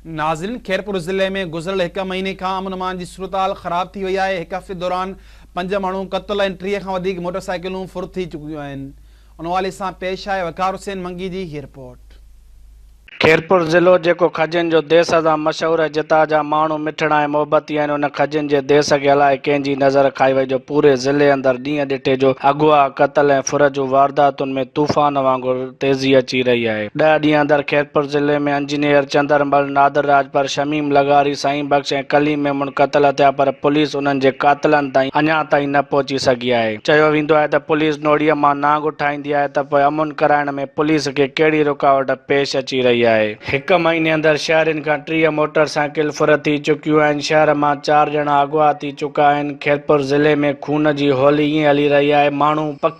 ناظرين خيرپور ضلعي ۾ گذريل هڪ مهيني کان امن امان جي صورتحال خراب ٿي وئي آهي هڪ هفتي دوران پنج ماڻهو قتل ۽ ٽيهه کان وڌيڪ موٽر سائيڪلون ڦر ٿي چڪيون آهن ان حوالي سان پيش آهي وقار حسين منگي جي هي رپورٽ. خيرپور ضلعو جيڪو کجين جو ديس سان مشهور آهي جتان جا ماڻهو مٺڙا ۽ محبتي آهن ان کجين جي ديس کي الائي ڪنهن جي نظر کائي وئي جو پوري ضلعي اندر ڏينهن ڏٺي جو اغوا قتل ۽ ڦر جون وارداتن ۾ طوفان وانگر تيزي اچي رهي آهي. ڏهه ڏينهن اندر خيرپور ضلعي ۾ انجنيئر چندر مل، نادر راڄپر، شميم لغاري، سائين بخش ۽ ڪليم ميمڻ قتل ٿيا پر پوليس انهن جي قاتلن تائين اڃان تائين نه پهچي سگهي آهي. چيو ويندو آهي ته پوليس نوڙيء مان نانگ اٺائيندي آهي ته پوء امن ڪرائڻ ۾ پوليس کي ڪهڙي رڪاوٽ پيش اچي رهي آهي. هڪ مهيني اندر شهرين کان ٽيهه موٽر سائيڪل ڦر ٿي چڪيون آهن، شهر مان چار ڄڻا اغوا ٿي چڪا آهن، خيرپور ضلعي ۾ خون جي هولي ائين هلي رهي آهي، ماڻهو پکي،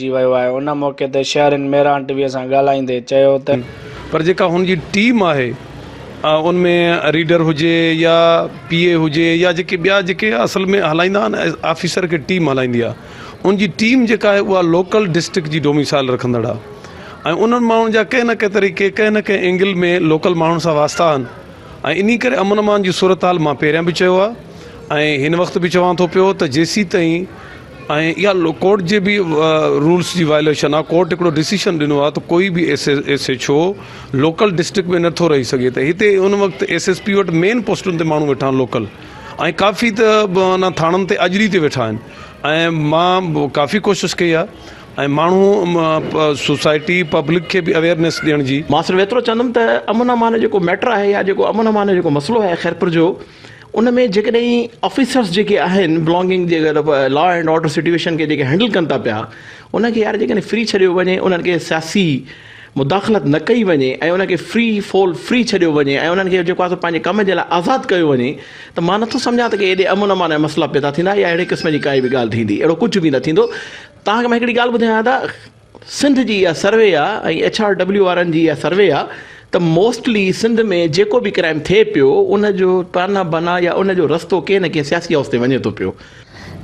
ٿي ويو آهي ان موقعي تي شهرين ميران ٽي وي سان ڳالهائيندي چيو ته. پر جيڪا هن جي ٽيم آهي ان ۾ ريڊر هجي يا پي اي هجي يا جيڪي ٻيا جيڪي اصل ۾ هلائيندا آهن آفيسر کي ٽيم هلائيندي آهي ان جي ٽيم جيڪا آهي اها لوڪل ڊسٽرڪٽ جي ڊوميسائل رکندڙ آهي ۽ انهن ماڻهن جا ڪنهن نه ڪنهن طريقي ڪنهن نه ڪنهن اينگل ۾ لوڪل ماڻهن سان واسطا آهن ۽ انهي ڪري امن امان جي صورتحال مان پهريان به چيو آهي ۽ هن وقت به چوان ٿو پيو ته جيسين تائين ۽ اها لو ڪورٽ جي به رولس جي وائليشن آهي ڪورٽ هڪڙو ڊسيشن ڏنو آهي ته ڪوئي به S S H O local district ۾ نٿو رهي سگهي ته هتي ان وقت ايس ايس پي وٽ مين پوسٽن تي ماڻهو ويٺا آهن لوڪل ۽ ڪافي ته انا ٿاڻن تي اجري تي ويٺا آهن ۽ مان ڪافي ڪوشش ڪئي آهي ۽ ماڻهو سوسائٽي پبلڪ کي به اويئرنيس ڏيڻ جي ماستر ويترو چوندم ته امن امان جو جيڪو ميٽر آهي يا جيڪو امن امان جو جيڪو مسئلو آهي خيرپور جو ان ۾ جيڪڏهن آفيسرس جيڪي آهن بلانگنگ جي اگر لا اينڊ آرڊر سٽويشن کي جيڪي هينڊل ڪن ٿا پيا ان کي يار جيڪڏهن فري ڇڏيو وڃي انهن کي سياسي مداخلت نه ڪئي وڃي ۽ انهن کي فري فول فري ڇڏيو وڃي ۽ انهن کي جيڪو آهي سو پنهنجي ڪم جي لاء آزاد ڪيو وڃي ته مان نٿو سمجهان ته ڪي ايڏي امن امان جا مسئلا پيدا ٿيندا يا اهڙي قسم جي ڪائي به ڳالهه ٿيندي اهڙو ڪجهه به نه ٿيندو توهان کي مان هڪڙي ڳالهه ٻڌايان ادا سنڌ جي اها سروي آهي ۽ ايڇ آر ڊبليو وارن جي اها سروي آهي ته موسٽلي سنڌ ۾ جيڪو به ڪرائيم ٿئي پيو ان جو تانا بانا يا ان جو رستو ڪنهن نه ڪنهن سياسي هائوس تي وڃي ٿو پيو.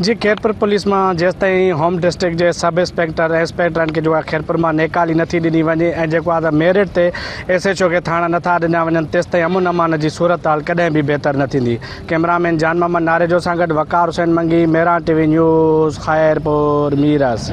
جي خيرپور پوليس مان جيستائين هوم ڊسٽرڪٽ جي sub inspector S P turn کي جوڳا خيرپور مان نيڪالي نه ٿي ڏني وڃي ۽ جيڪو آدر ميرٽ تي ايس ايڇ او کي ٿاڻا نه ٿا ڏنا وڃن تيستائين امن امان جي صورتحال ڪڏهن به بهتر نه ٿيندي ڪئمرامين جان محمد ناريجو سان گڏ وقار حسين منگي ميران ٽي وي نيوز خيرپور ميرس.